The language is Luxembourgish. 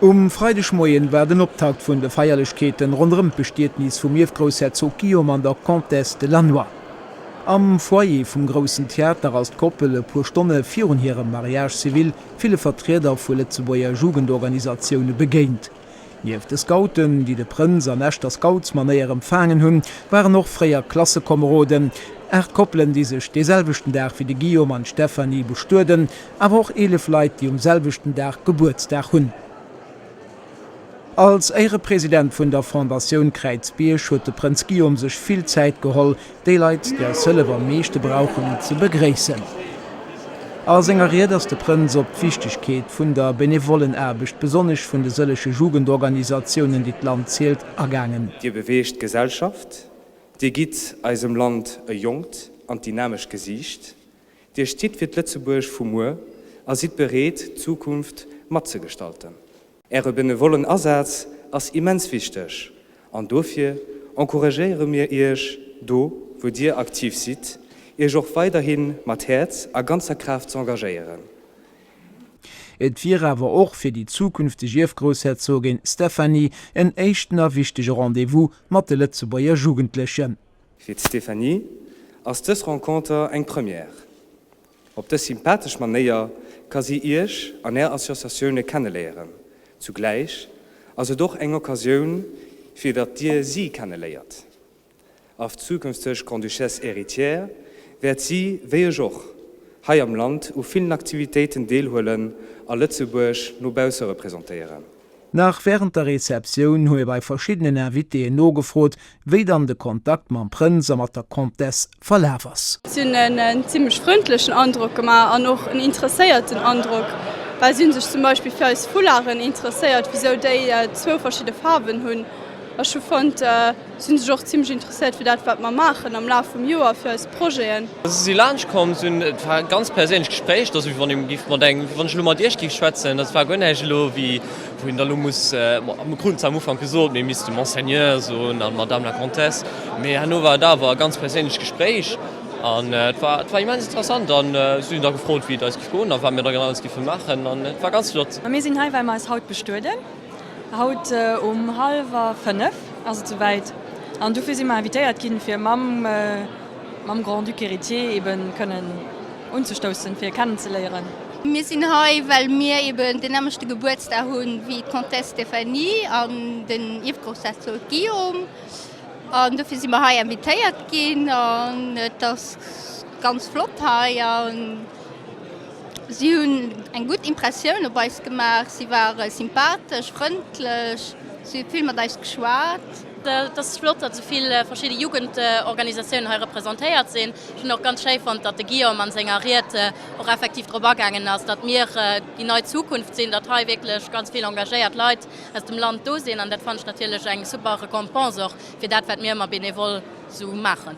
Um Freidegmoien war den Optakt vun de Feierlechkeeten ronderëm d'Bestietnis vum Ierfgroussherzog Guillaume an der Comtesse de Lannoy. Am Foyer vum Groussen Theater ass d'Koppel e puer Stonne virun hirem Mariage civil ville Vertrieder vu Lëtzebuerger Jugendorganisatioune begéint. Nieft de Scouten, déi de Prënz an echter Scoutsmanéier empfaangen hunn, waren och fréier Klassekomeroden, aacht Koppelen, déi sech dee selwechten Dag wéi de Guillaume an d'Stéphanie bestueden, awer och eelef Leit, déi um selwechten Dag Gebuertsdag hunn. Als Éierepresident vun der Fondatioun Kräizbierg huet de Prënz Guillaume sech vill Zäit geholl, Déi Leit, déi eis Hëllef am meeschte brauchen, ze begréissen. A senger Ried ass de Prënz op d'Wichtegkeet vun der Benevollenaarbecht, besonnesch vun de sëllege Jugendorganisatiounen, déi d'Land zielt, agaangen. Dir beweegt d'Gesellschaft, Dir gitt eisem Land e jonkt an dynamescht Gesiicht, Dir stitt fir d'Lëtzebuerg vu muer a sidd bereet, d'Zukunft matzegestalten. Äre benevollen Asaz ass immens wichteg an dofir encouragéiere mir Iech, do wou Dir aktiv sidd, Iech och weiderhi mat Häerz a ganzer Kraaft z'engagéieren. Et wier awer och fir déi zukünfteg Ierfgroussherzogin Stéphanie en éischten a wichtege Rendez-vous mat de Lëtzebuerger Jugendlechen. Fir d'Stéphanie ass dës Renconter eng Première. Op dës sympathesch Manéier ka si Iech an Är Associatioune kenneléieren. Zugläich ass et och eng Occasioun, fir datt Dir si kenneléiert. Arf zukünfteg Grande-Duchesse Héritière wäert si, wéi ech och, hei am Land u villen Aktivitéiten deelhuelen a Lëtzebuerg no bausse representéieren. Nach wärend der Receptioun hu mir bei verschiddenen Invitéen nogefrot, wéi dann de Kontakt mam Prënz a mat der Comtesse verlaf ass. Si hunn en zimlech frëndlechen Androck gemaach an och en interesséierten Androck, well si hu sech zum Beispill fir eis Foularden interesséiert, wisou déi zwou verschidde Faarwen hunn. Ech hu fonnt. Si sech och zimmlech interesséiert fir dat, wat mer maachen am Laf vum Joer, fir eis Projeten. Si si laanscht komm sinn. Et war e ganz perséinlecht Gespréich. Et ass wéi wann ee giff mat engem, wéi wann ech elo mat Iech giff schwätzen. Dat war guer näischt elo, wéi wou een da elo muss, mir kruten zwar am Ufank gesot, mir misste Monseigneur soen an Madame la Comtesse, mee herno war et awer e ganz perséinlecht Gespréich an et war, et war immens interessant. An si hunn da gefrot, wéi et eis giff goen a wat mir da genau alles giffe maachen an et war ganz flott. A mir sinn hei, well mer eis haut bestueden. Haut um halwer fënnef ass et souwäit an dofir si mer invitéiert ginn, fir mam mam Grand-Duc héritier eben kënnen unzestoussen, fir e kennenzeléieren. Mir sinn hei, well mir eben deen nämmlechte Gebuertsdag hu wéi d'Comtesse Stéphanie an den Ierfgrossherzog Guillaume. An dofir si mer hei invitéiert ginn an et ass ganz flott hei. Si hunn eng gutt Impressioun op eis gemaach. Si ware sympathesch, frëndlech, si hu vill mat eis geschwat. Et ass flott, datt esou vill verschidde Jugendorganisatiounen hei representéiert sinn. Ech hunn och ganz schéi fonnt, datt de Guillaume a senger Ried och effektiv drop agaangen ass, datt mir déi nei Zukunft sinn, datt hei wierklech ganz vill engagéiert Leit aus dem Land do sinn. An dat fannen ech natierlech eng super Récompense och fir dat, wat mir ëmmer benevol esou maachen.